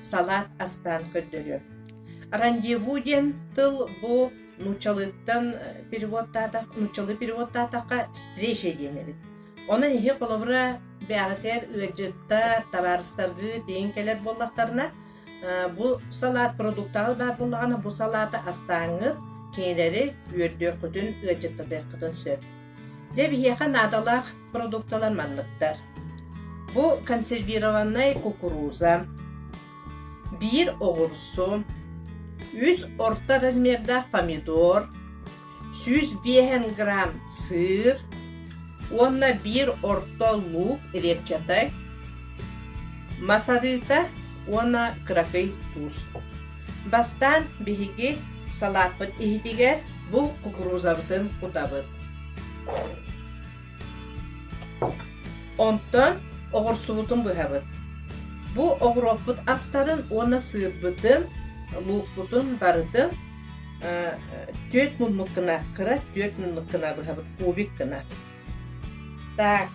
салаат астаан көрдөрүө. Рандеву диэн тыл бу нуучалыыттан переводтаатах, нууччалыы переводтаатахха встреча диэн эбит. Онон иһи холобура бэҕэтэр ыалдьыттар, табаарыстаргыы тиийин кэлэр буоллахтарына, бу салаат продуктаҕа баар буоллаҕына, бу салааты астааҥҥыт кинилэри үөрдүөххүтүн, ыалдьыттатыаххытын сөп. Дьэ, биһиэхэ наадалаах продукталар манныктар. Бу консервированнай кукуруза, биир оҕурсу, үс орто размердаах помидор, сүүс биэһэн грамм сыр уонна биир орто луук репчатай, масарыта уонна кыракый туус. Бастаан биһиги салааппыт иһитигэр бу кукурузабытын кутабыт. Онтон оҕурсубутун быһабыт. Бу оҕуруоппут астарын уонна сыырбытын, луукпутун барытын э, э, түөрт муннук кына, кыра түөрт муннук кына быһабыт кубик кына. Так,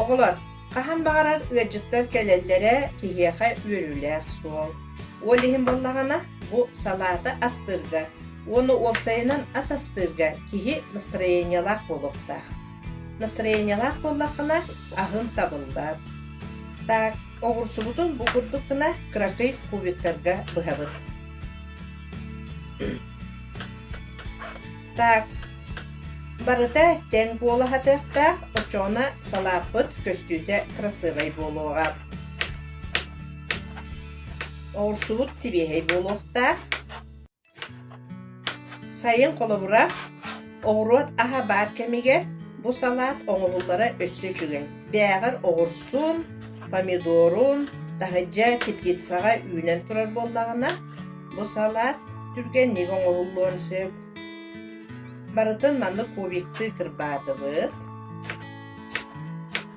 оҕолор, хаһан баҕарар ыалдьыттар кэлэллэрэ киһиэхэ үөрүүлээх суол. Ол иһин буоллаҕына, бу салаата астыырга уонна уопсайынан ас астыырга киһи настроениелаах буолуохтаах. Настроениелаах буоллаххына, аһын табыллар. Так, оҕурсубутун бу курдук гына кыракый кубиктарга быһабыт. Так, барыта тэҥ куолаһатыахтаах очооно салааппыт көстүүтэ кырасыабай буолуоҕа. Оҕурсубут сибиэһэй буолуохтаах. Сайын холобура, оҕуруот аһа баар кэмигэр бу салаат оҥоһуллара өссө үчүгэй. Бээҕэр оҕурсун, помидорун, таһырдьа теплицаҕа үүнэн турар буоллаҕына, Бу салаат түргэнник оҥоһуллуон сөп. Барытын маннык кубиктыы кырбаатыбыт,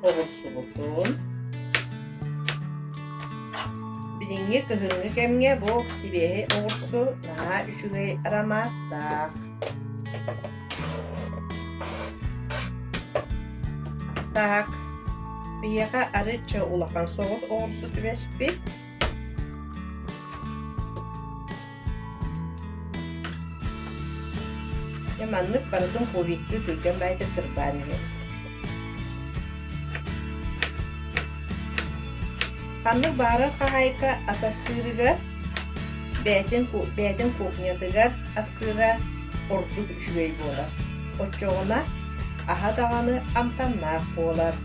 оҕурсубутун. Билиҥҥи кыһыҥҥы кэмҥэ бу сибиэһэй оҕурсу наһаа үчүгэй ароматтаах. Так, биһиэхэ арычча улахан соҕус оҕурсу түбэспит. Дьэ маннык барытын кубикка түргэн баайга тырбаан иһэбит. Ханнык баарар хаһаайка ас астыырыгар, бээтин, бээтин кухнятыгар астыыра ордук үчүгэй буолар. Оччоҕуна аһа даҕаны амтаннаах буолар.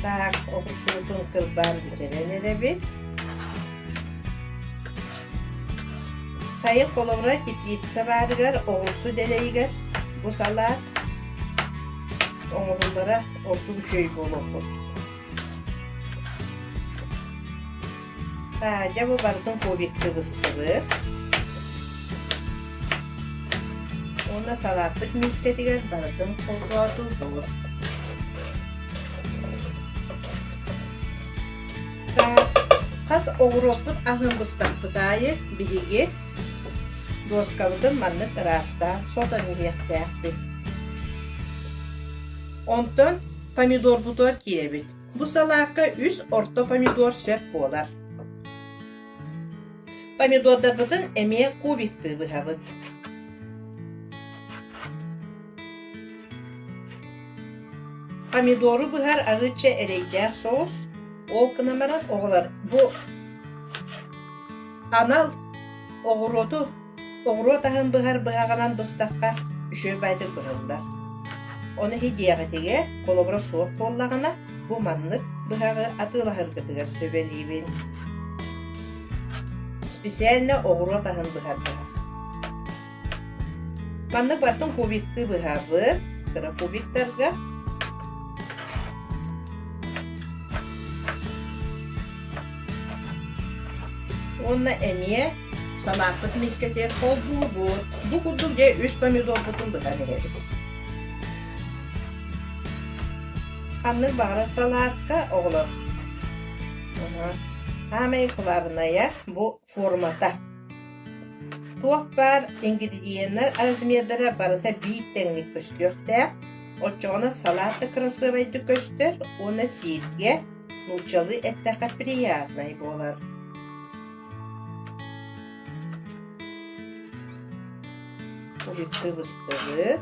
Так, уксуутун кырбаан бүтэрэн эрэбит. Сайын холобура теплица баарыгар, оҕурсу дэлэйигэр бу салаат оҥоһуллара ордук үчүгэй буолуоххут. дьэ бу барытын кубикка быстыбыт уонна салааппыт миискэтигэр барытын холбоотурдубут хас оҕуруоппут аһын быстахпыт аайы биһиги дуоскабытын маннык ыраастаан сотон иһиэхтээхпит онтон помидорбутугар киирэбит Бу салаакка үс орто помидор сөп буолар. Помидордарбытын эмиэ кубиктыы быһабыт. Помидору быһар арыычча эрэйдээх соус. Ол гынан баран оҕолор бу анал оҕуруоту Оҕуруот аһын быһар быһаҕынан быстахха, үчүгэй баайдык быһыллар. Ону иһийиэҕитигэр, холобура суох буоллаҕына, бу маннык быһаҕы атыылаһаргытыгар сүбэлиибин. Специально оҕуруот аһын быһардылар. Маннык баттын кубиктыы быһабыт, кыра кубиктарга Уонна эмиэ санааппыт мискэтиэх холбуубут. Бу курдук дьэ үс помидорбутун бытан иһэбит. Ханнык баҕарар салаатка, оҕолор. Саамай кылаабынайа бу формата. Туох баар ингредиеннэр размердара барыта биир тэҥник көстүөхтээх, оччоҕуна салаат да кырасыабайдык көстөр уонна сииргэ нууччалыы эттэххэ приятнай буолар. Куһикты быстыбыт.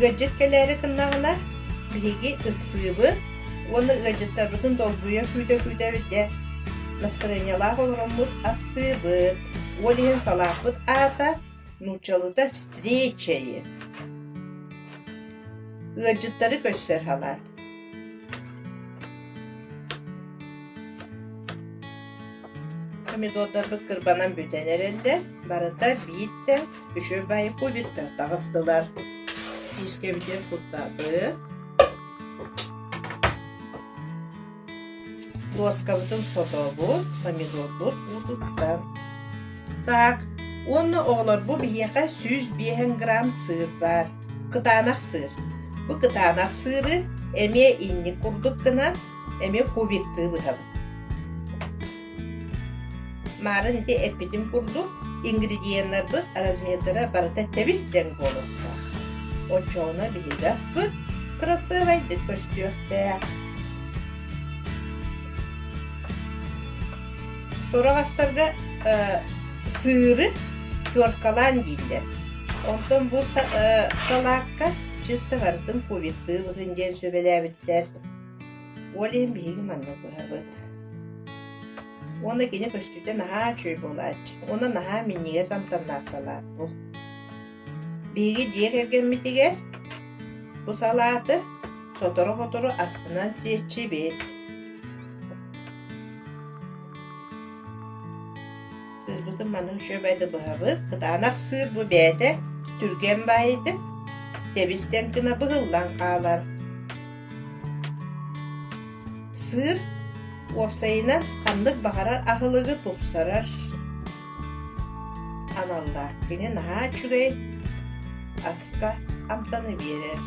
Ыалдьыт кэлээри гыннаҕына, биһиги ыксыыбын уонна ыалдьыттарбытын долгуйа күүтэ-күүтэ бүтэ настырыанньалаах олороммут астыыбыт. Ол иһин салааппыт аата нууччалыта «встречае». Ыалдьыттары көрсөр халаат. Помидордарбыт кырбанан бүтэн эрэллэр. Барыта биирдэ үчүгэй баайбытыттан таҕыстылар. Миискэбитин куттабыт. Доскабытын сотобут, помидорбут уутуттан. Так, уонна оҕолорбут биһиэхэ сүүс биэһэн грамм сыыр баар, кытаанах сыыр. Бу кытаанах сыыры эмиэ инник курдук гынан, эмиэ кубиктыы бытабыт. Марын ити эппитим курдук, ингредиеннарбыт размердара барыта тэбис диэн буолуохтаах. Оччоҕуна биһиги аскыт кроссовайдык көстүөхтээх. Сураҕастарга э, сыыры теркалаан дииллэр. Онтон бу салаакка чисто барытын кувиттыыбытын диэн сүбэлээбиттэр. Ол иһин биһиги манна быһабыт. Уонна кини көстүүтэ наһаа үчүгэй буолааччы. Уонна наһаа минньигэс амтаннаах салаат бу. Биһиги дьиэ кэргэммитигэр бу салааты сотору-сотору астынан сиэччибит. Сыырбытын манна үчүгэй баайда быһабыт. Кытаанах сыыр бу бэйэтэ түргэн баайытын, тэбистэн гына быһыллан хаалар. Сыыр уопсайынан ханнык баҕарар аһылыгы тупсарар аналлаах. Кини наһаа үчүгэй аска амтаны биэрэр.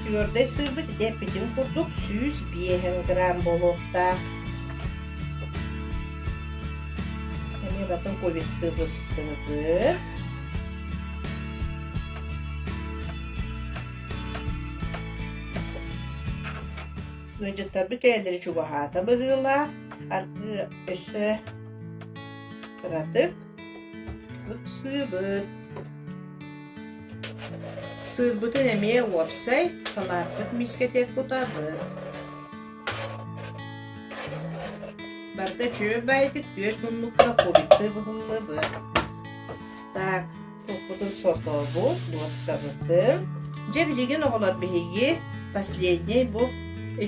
Түөрдэй сыырбыт эппитин курдук сүүс биэһэн грамм буолуохтаах. Эмиэ батын кубиктыы быстыбытык. Ыалдьыттарбыт бэйэлэрэ чугаһаата быһыылаах, аргы өссө кыратык ыксыыбыт. Сыырбытын эмиэ уопсай салаапкыт миискэтигэр кутабыт. Барда чүөл баайытык түөрт муннукка кубиктыы буһуллубут. Так, Уруккутун сотообут, дуостабытын. Дьэ билигин оҕолор биһиги последний бу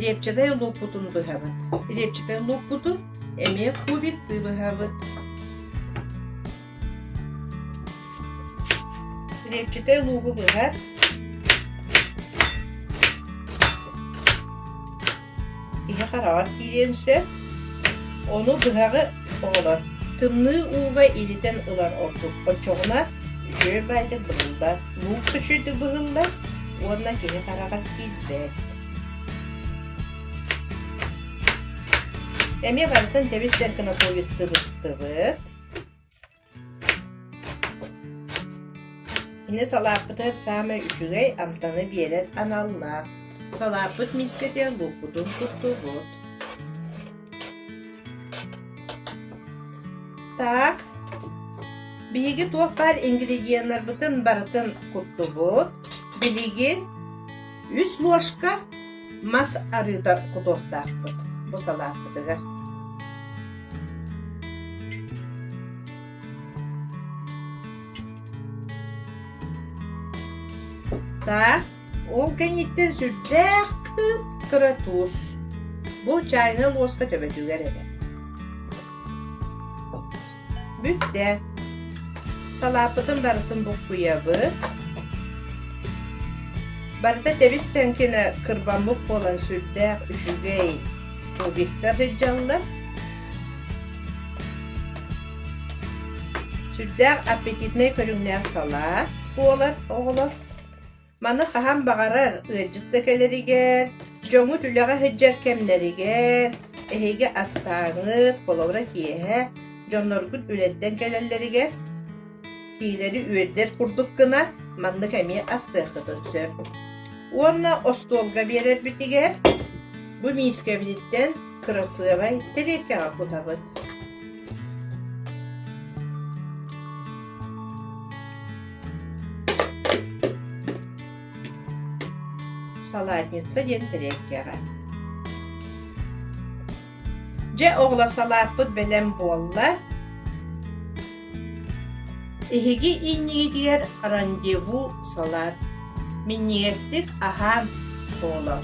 репчатай луукпутун быһабыт. Репчатай луукпутун эмиэ кубиктыы быһабыт. Репчатай луугу быһа Иһэ хараҕар киириэн сөп, ону быһаҕы оҕолор тымныы ууга илитэн ылар ордук, оччоҕуна үтүө баайдык быһыллар, луук күчүйдүк быһыллар уонна киһи хараҕар киирбэт. Эмиэ барытын тэбис-тэркинэ тулуйустубустубут. Кини салааппытыгар саамай үчүгэй амтаны биэрэр аналлаах. Салааппыт миискэтэ булкутун туттубут. Так, биһиги туох баар ингредиеннарбытын барытын куттубут. Билигин үс ложка Мас арыыта кутуохтаахпыт, бу салааппытыгар Так, ол кэнниттэн сүрдээх кыып кыра туос. Бу чайнай луоска төбөтүгэр эрэ. Бүт да. Салааппытын барытын буккуйабыт. Барыта тэбис тэҥкинэ кырбаммыт буолан сүрдээх үчүгэй кубиктар сыдьаллар. Сүрдээх аппетитнай көрүҥнээх салаат буолар оҕолор. Маны хаһан баҕарар ыалдьыт да кэлэригэр, дьоҥҥут үлэҕэ сылдьар кэмнэригэр, эһиги астааҥыт, холобура киэһэ дьонноргут үлэрдэн кэлэллэригэр, киинэни үөрдэр курдук гына маннык эмиэ астыаххытын сөп. Уонна остуолга биэрэрбитигэр бу миискэбититтэн кырасыабай тириэркэҕэ кутабыт. Салатница диэн тириэккэҕэ. Дьэ, оҕолор салааппыт бэлэм буолла. Эһиги иннигитигэр рандеву салат. Минньигэстик аһаан буолар.